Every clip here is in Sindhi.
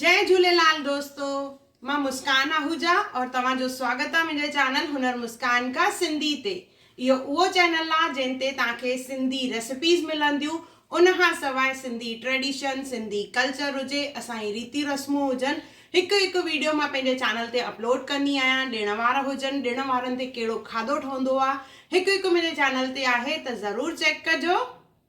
جئي جھوليلال دوستو مان مسڪان آهوجا اور توهان جو سواگت آ منهنجي چينل هنر مسڪان کا سنڌي تي اهو اهو چينل آ جنهن تي توهان کي سنڌي ريسپيز ملنديون ان کان سواء سنڌي ٽريڊيشن سنڌي ڪلچر هجي اسان جي ريتيون رسمون هجن هڪ هڪ ويڊيو مان پنهنجي چينل تي اپلوڊ ڪندي آهيان ڏڻ وار هجن ڏڻ وارن تي ڪهڙو کاڌو ٺهندو آ هڪ هڪ منهنجي چينل تي آهي ته ضرور چيڪ ڪجو.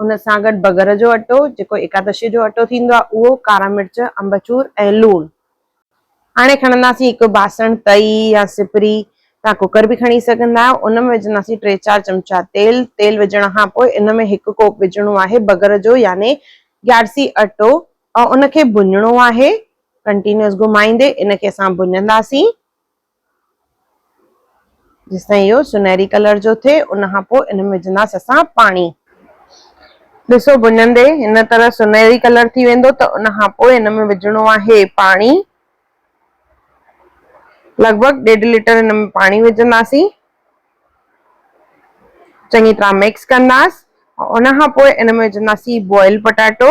ان سان گڏ بگر جو اٽو جيڪو ايڪادشي جو اٽو ٿيندو آهي اهو، ڪارا مرچ، امبچور ۽ لوڻ. هاڻي کڻنداسين هڪ باسڻ، تئي يا سپري، توهان ڪوڪر به کڻي سگهندا آهيو، ان ۾ وجهنداسين ٽي چار چمچا تيل، تيل وجهڻ کان پوء ان ۾ هڪ ڪوپ وجهڻو آهي بگر جو يعني گيارسي اٽو ۽ ان کي ڀڃڻو آهي ڪنٽينيوس گهمائيندي ان کي اسان ڀڃنداسين جيستائين اهو سنهري ڪلر جو ٿئي ان کان پوء ان ۾ وجهنداس اسان پاڻي. ڏسو ڀڃندي هن طرح سنهري ڪلر ٿي ويندو ته ان کان پوء ان ۾ وجهڻو آهي پاڻي لڳ ڀڳ ڏيڍ ليٽر ان ۾ پاڻي وجهنداسين چڱي طرح مڪس ڪنداس ان کان پوء ان ۾ وجهنداسين بوائل پٽاٽو.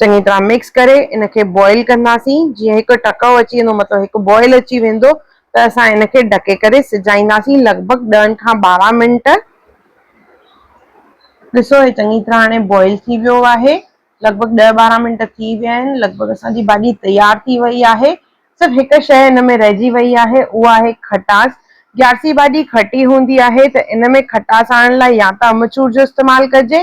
چڱي طرح مڪس ڪري ان کي بوائل ڪنداسين جيئن هڪ ٽڪئو اچي ويندو مطلب هڪ بوائل اچي ويندو ته اسان ان کي ڍڪي ڪري سجائينداسين لڳ ڀڳ ڏهن کان ٻارهن منٽ ڏسو هي چڱي طرح هاڻي بوائل ٿي ويو آهي لڳ ڀڳ ڏهه ٻارهن منٽ ٿي ويا آهن لڳ ڀڳ اسان جي ڀاڄي تيار ٿي وئي آهي صرف هڪ شيء ان ۾ رهجي وئي آهي اها آهي کٽاس گيارسي ڀاڄي کٽي هوندي آهي ته ان ۾ کٽاس آڻڻ لاء يا ته امچور جو استعمال ڪجي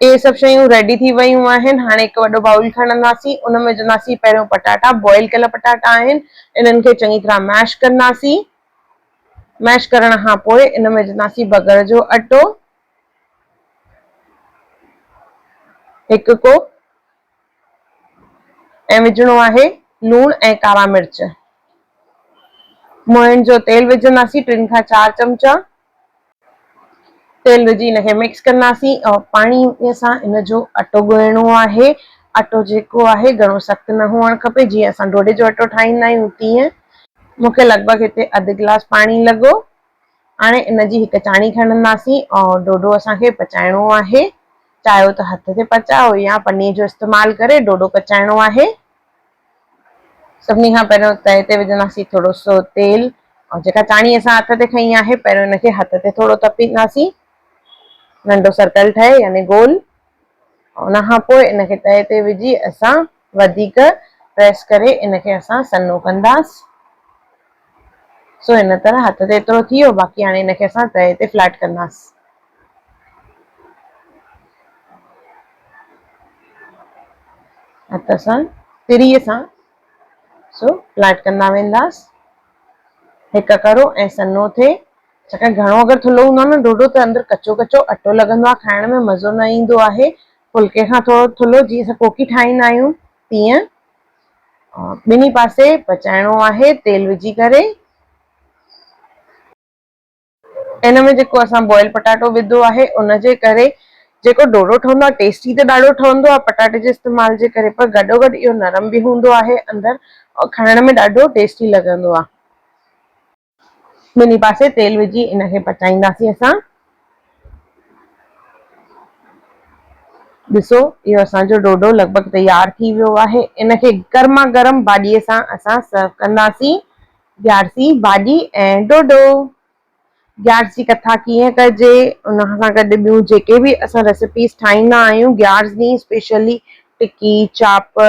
اهي سڀ شيون ريڊي ٿي ويون آهن هاڻي هڪ وڏو بائول کڻنداسين ان ۾ وجهنداسين پهريون پٽاٽا بوائل ڪيل پٽاٽا آهن انهن کي چڱي طرح ميش ڪنداسين ميش ڪرڻ کان پوء ان ۾ وجهنداسين بگر جو اٽو هڪ ڪوپ ۽ وجهڻو آهي لوڻ ۽ ڪارا مرچ موئن جو تيل وجهنداسين ٽن کان چار چمچا تيل وجهي ان کي مڪس ڪنداسين ۽ پاڻي سان ان جو اٽو ڳوهڻو آهي اٽو جيڪو آهي گهڻو سخت نه هئڻ کپي جيئن اسان ڍوڍي جو اٽو ٺاهيندا آهيون تيئن مون کي لڳ ڀڳ هتي اڌ گلاس پاڻي لڳو هاڻي ان جي هڪ چاڻي کڻنداسين ۽ ڍوڍو اسان کي پچائڻو آهي چاهيو ته هٿ تي پچايو يا پني جو استعمال ڪري ڍوڍو پچائڻو آهي سڀني کان پهريون تئي تي وجهنداسين ٿورو سو تيل ۽ جيڪا چاڻي اسان هٿ تي کنئي آهي پهريون ان کي هٿ تي ٿورو تپينداسين ننڍو سرڪل ٺهي يعني گول ان کان پوء ان کي تئي تي وجهي اسان وڌيڪ پريس ڪري ان کي اسان سنو ڪنداسين سو ان طرح هٿ تي ايترو ٿي ويو باقي هاڻي هن کي اسان تهه تي فليٽ ڪنداس. هٿ اسان تري سان سو فليٽ ڪندا وينداس هڪ ڪرو ۽ سنو ٿئي ڇاڪاڻ گهڻو اگر ٿلهو هوندو آهي نه ڍوڍو ته اندر ڪچو ڪچو اٽو لڳندو آهي کائڻ ۾ مزو نه ايندو آهي ڦلڪي کان ٿورو ٿلهو جيئن اسان ڪوڪي ٺاهيندا آهيون تيئن ٻنهي پاسي پچائڻو آهي تيل وجهي ڪري. ان ۾ جيڪو اسان بوائل پٽاٽو وڌو آهي ان جي ڪري جيڪو ڍوڍو ٺهندو آهي ٽيسٽي ته ڏاڍو ٺهندو آهي پٽاٽي جي استعمال جي ڪري پر گڏو گڏ اهو نرم به هوندو آهي اندر کائڻ ۾ ڏاڍو ٽيسٽي لڳندو آهي. ٻنهي پاسي تيل وجهي ان کي پچائينداسين اسان ڏسو اهو اسان جو ڊوڊو لڳ ڀڳ تيار ٿي ويو آهي ان کي گرما گرم ڀاڄي سان اسان سرو ڪنداسين گيارسي ڀاڄي ۽ ڊوڊو گيارس جي ڪٿا ڪيئن ڪجي ان سان گڏ ٻيون جيڪي به اسان ريسيپيز ٺاهيندا آهيون گيارس ڏينهن اسپيشلي ٽڪي چاپ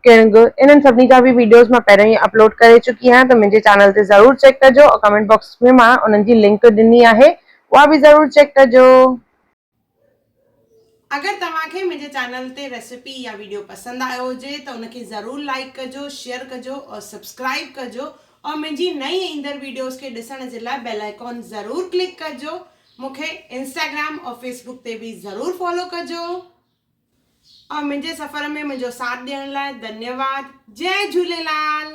ڪينگ انهن سڀني جا به ويڊيوز مان پهريون ئي اپلوڊ ڪري چڪي آهيان ته منهنجي چينل تي ضرور چيڪ ڪجو ۽ ڪمينٽ باڪس ۾ مان انهن جي لنڪ ڏني آهي اها به ضرور چيڪ ڪجو. اگر توهان کي منهنجي چينل تي ريسيپي يا ويڊيو پسند آيو هجي ته ان کي ضرور لائيڪ ڪجو شيئر ڪجو اور سبسڪرائيب ڪجو اور منهنجي نئين ايندڙ ويڊيوز کي ڏسڻ جي لاء بيل آئيڪون ضرور ڪلڪ ڪجو مونکي انسٽاگرام اور فيسبوڪ تي به ضرور فالو ڪجو. آء منهنجي سفر ۾ منهنجو ساٿ ڏيڻ لاء ڌنيواد جئ جهوليلال.